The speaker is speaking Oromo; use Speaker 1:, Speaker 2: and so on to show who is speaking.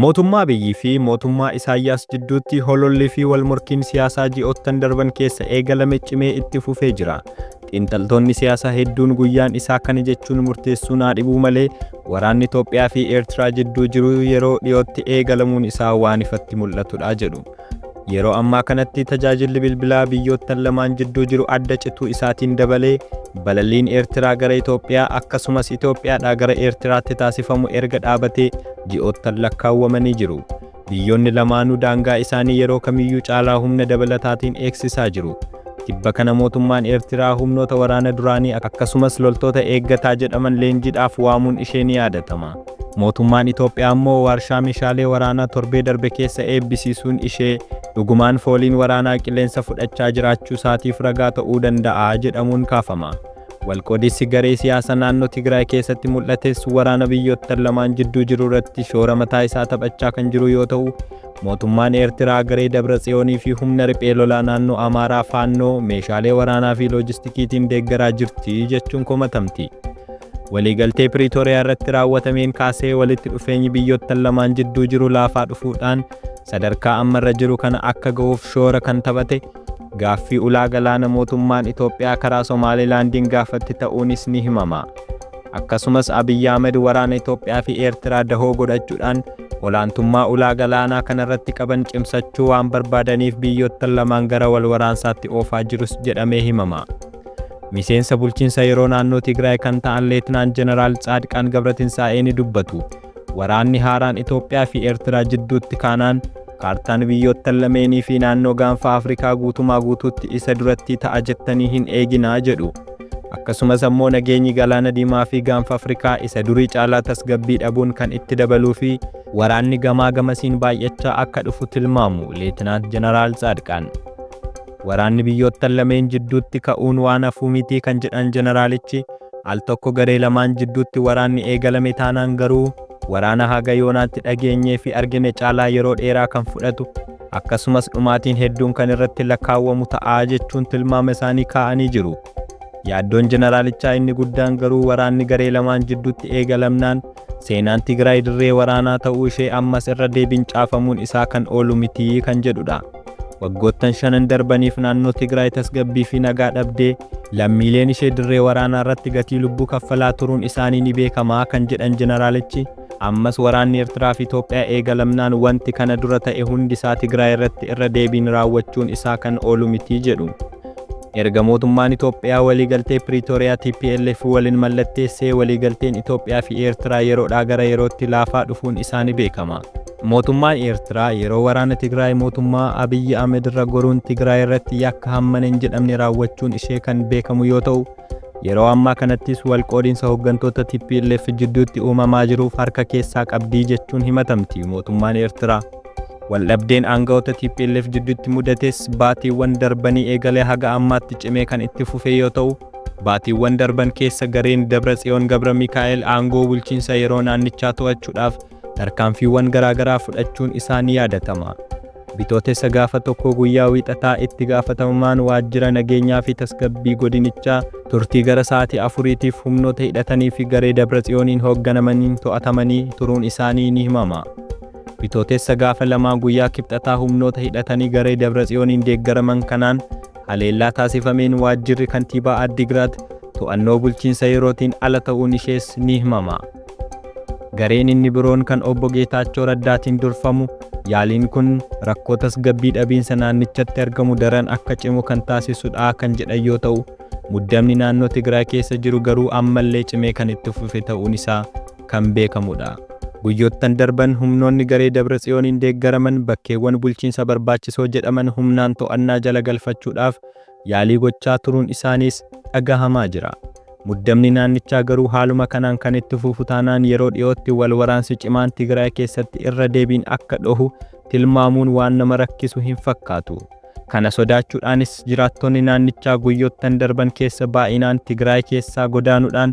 Speaker 1: Mootummaa Abiyyii fi mootummaa Isaayyaas jidduutti hololli fi walmorkiin siyaasaa ji'oottan darban keessa eegalame cimee itti fufee jira. Xiinxaltoonni siyaasaa hedduun guyyaan isaa kana jechuun murteessuu naa dhibuu malee waraanni Toophiyaa fi Eertiraa jidduu jiru yeroo dhiyootti eegalamuun isaa waan ifatti mul'atudha jedhu. Yeroo ammaa kanatti tajaajilli bilbilaa biyyoottan lamaan jidduu jiru adda cituu isaatiin dabalee balalliin Eertiraa gara Itoophiyaa akkasumas Itoophiyaadhaa gara Eertiraatti taasifamu erga dhaabatee ji'oottan lakkaawwamanii jiru. Biyyoonni lamaanuu daangaa isaanii yeroo kamiyyuu caalaa humna dabalataatiin eegsisaa jiru. Tibba kana mootummaan Eertiraa humnoota waraana duraanii akkasumas loltoota eeggataa jedhaman leenjiidhaaf waamuun ishee ni yaadatama. Mootummaan Itoophiyaa immoo waarshaa meeshaalee waraanaa torbee darbe keessa eebbisiisuun ishee dhugumaan fooliin waraanaa qilleensa fudhachaa jiraachuu isaatiif ragaa ta'uu danda'a jedhamuun kaafama. Walqoodinsi garee siyaasa naannoo Tigraay keessatti mul'ates waraana biyyoottan lamaan jidduu jiru irratti shoora mataa isaa taphachaa kan jiru yoo ta'u, Mootummaan Eertiraa garee Dabratsiyoonii fi humna riphee lolaa naannoo Amaaraa Faannoo meeshaalee waraanaa fi loojistikiitiin deeggaraa jirti jechuun komatamti. Waliigaltee Piriitooriyaa irratti raawwatameen kaasee walitti dhufeenyi biyyoottan lamaan jidduu jiru laafaa dhufuudhaan sadarkaa amma irra jiru kana akka gahuuf shoora kan taphate Gaaffii ulaa galaana mootummaan Itoophiyaa karaa Somaalilaandiin gaafatte ta'uunis ni himama. Akkasumas Abiy Ahmed waraana Itoophiyaa fi Eertiraa dahoo godhachuudhaan olaantummaa ulaa galaanaa kanarratti qaban cimsachuu waan barbaadaniif biyyoottan lamaan gara wal waraansaatti oofaa jirus jedhamee himama. Miseensa bulchiinsa yeroo naannoo Tigraay kan ta'an Leetnaan Jeneraal Tsaadqaan Gabratinsaa'ee ni dubbatu. Waraanni haaraan Itoophiyaa fi Eertiraa jidduutti kaanaan kaartaan biyyoottan lameenii fi naannoo gaanfa Afrikaa guutumaa guutuutti isa durattii ta'a jettanii hin eeginaa jedhu. Akkasumas ammoo nageenyi Galaana Diimaa fi gaanfa Afrikaa isa durii caalaa tasgabbii dhabuun kan itti dabaluu fi waraanni gamaa gamasiin baay'achaa akka dhufu tilmaamu Leetinaant Jeneraal Tsaadqaan. Waraanni biyyoottan lameen jidduutti ka'uun waan hafuu miti kan jedhan jeneraalichi, al tokko garee lamaan jidduutti waraanni eegalame taanaan garuu waraana haga yoonaatti dhageenyeefi argine caalaa yeroo dheeraa kan fudhatu, akkasumas dhumaatiin hedduun kan irratti lakkaawwamu ta'a jechuun tilmaama isaanii kaa'anii jiru. Yaaddoon jeneraalichaa inni guddaan garuu waraanni garee lamaan jidduutti eegalamnaan, Seenaan Tigraay dirree waraanaa ta'uu ishee ammas irra deebiin caafamuun isaa kan oolu miti kan jedhudha. Waggoottan shanan darbaniif naannoo Tigraay tasgabbii fi nagaa dhabdee lammiileen ishee dirree waraanaa irratti gatii lubbuu kaffalaa turuun isaanii ni beekamaa kan jedhan jeneraalichi ammas waraanni Eertiraa fi Itoophiyaa eegalamnaan wanti kana dura ta'e hundi isaa Tigraay irratti irra deebiin raawwachuun isaa kan oolu miti jedhu. Erga mootummaan Itoophiyaa waliigaltee Piriitooriyaa tplf walin mallatteessee waliigalteen Itoophiyaa fi Eertiraa yeroodhaa gara yerootti laafaa dhufuun isaa ni beekama. Mootummaan Eertiraa yeroo waraana Tigraay mootummaa Abiyyi Ahmed irra goruun Tigraay irratti yakka hammana hin jedhamne raawwachuun ishee kan beekamu yoo ta'u, yeroo ammaa kanattis wal qoodinsa hoggantoota tplf jidduutti uumamaa jiruuf harka keessaa qabdi jechuun himatamti mootummaan Eertiraa. Waldhabdeen aanga'oota tplf jidduutti mudates baatiiwwan darbanii eegalee haga ammaatti cimee kan itti fufee yoo ta'u, baatiiwwan darban keessa gareen Dabratsiyoon Gabramikaa'el aangoo bulchiinsa yeroo naannichaa to'achuudhaaf tarkaanfiiwwan garaagaraa fudhachuun isaa ni yaadatama. Bitootessa gaafa 1 guyyaa Wiixataa itti gaafatamaan waajjira nageenyaa fi tasgabbii godinichaa turtii gara sa'aatii afuriitiif humnoota hidhatanii fi garee Dabratsiyooniin hoogganamaniin to'atamanii turuun isaanii ni himama. Bitootessa gaafa lamaa guyyaa Kibxataa humnoota hidhatanii garee Dabratsiyooniin deeggaraman kanaan haleellaa taasifameen waajjirri kantiibaa Addigiraat to'annoo bulchiinsa yerootiin ala ta'uun ishees ni himama. Gareen inni biroon kan Obbo Geetaachoo Raddaatiin durfamu yaaliin kun rakkoo tasgabbii dhabiinsa naannichatti argamu daran akka cimu kan taasisudha kan jedhan yoo ta'u, muddamni naannoo Tigraay keessa jiru garuu ammallee cimee kan itti fufe ta'uun isaa kan beekamudha. Guyyoottan darban humnoonni garee Dabratsiyooniin deeggaraman bakkeewwan bulchiinsa barbaachisoo jedhaman humnaan to'annaa jala galfachuudhaaf yaalii gochaa turuun isaaniis dhagahamaa jira. Muddamni naannichaa garuu haaluma kanaan kan itti fufu taanaan yeroo dhiyootti wal waraansi cimaan Tigraay keessatti irra deebiin akka dhohu tilmaamuun waan nama rakkisu hin fakkaatu. Kana sodaachuudhaanis jiraattonni naannichaa guyyoottan darban keessa baay'inaan Tigraay keessaa godaanudhaan